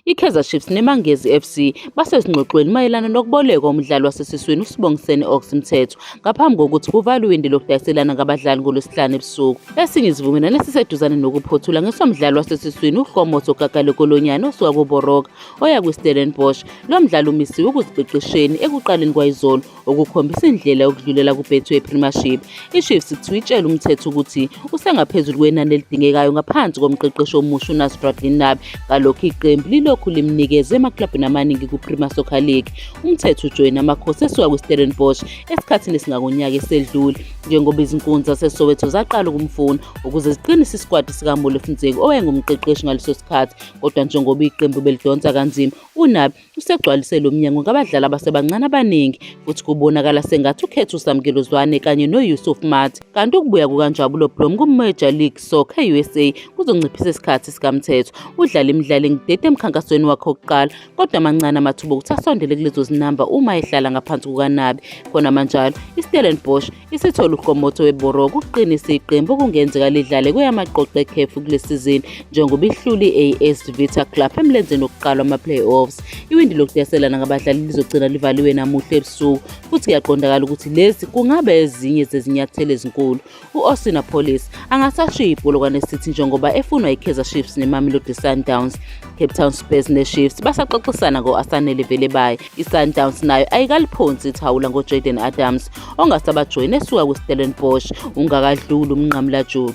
IKaizer Chiefs neMangezi FC basezingxoxweni mayelana nokubolekwa umdlali wasesiswini uSibongiseni Ox Mthethwa ngaphambi kokuthi kuvalwe iwindi lokudayiselana ngabadlali ngolwesihlanu ebusuku. Esinye isivumelwano esiseduzane nokuphothula ngesomdlali wasesiswini uHlomoso Gagale Kolonyane osuka koBoroka oya kwiStellenbosch. Lo mdlali umisiwe ukuziqeqesheni ekuqaleni kwayizolo okukhombisa indlela yokudlulela kuBetway Premiership. IChiefs kuthiwa itshela umthetho ukuthi usengaphezulu kwenani elidingekayo ngaphansi komqeqeshi omusha uNasruddin Nabi ngalokho iqembu lilokhu limnikeze emaklabhini amaningi kuPremier Soccer League. Umthetho ujoyina amakhosi esuka kwiStellenbosch esikhathini esingakonyaka esedlule njengoba izinkunzi zaseSoweto zaqala ukumfuna ukuze ziqinise isikwati sikaMolefi Ntseki owayengumqeqeshi ngaleso sikhathi kodwa njengoba iqembu belidonsa kanzima uNabi usegcwalise lo mnyango ngabadlali abasebancane abaningi futhi kubonakala sengathi ukhetha usamkelo zwane kanye noyusuf mat kanti ukubuya kukanjabulo blom kumajor league soccer usa kuzonciphisa isikhathi sikamthetho udlala imidlalo engidede emkhankasweni wakhe wokuqala kodwa amancane amathuba okuthi asondele kulezo zinamba uma ehlala ngaphansi kukanabi khona manjalo istellenbosch Isithole uGomotso weBorough ukuqinisa iqembu okungenzeka lidlale kweyamaqoqo ekhefu kule sizini njengoba ihluli i-AS Vita Club emlenzeni wokuqala wama-playoffs. Iwindi lokudeselana ngabadlali lizogcina livaliwe namuhla ebusuku futhi kuyaqondakala ukuthi lezi kungaba ezinye zezinyathelo ezinkulu. U-Austin Apolis angasashiya ibholokwane City njengoba efunwa i-Kaizer Chiefs ne-Mamelodi Sundowns. Cape Town Spurs ne-Chiefs basaxoxisana ngo-Asanele Velebayi ISundowns nayo ayikaliphonsi ithawula ngoJaden Adams ongasabajoyini esuka kwiStellenbosch ungakadluli umnqamulajuqu.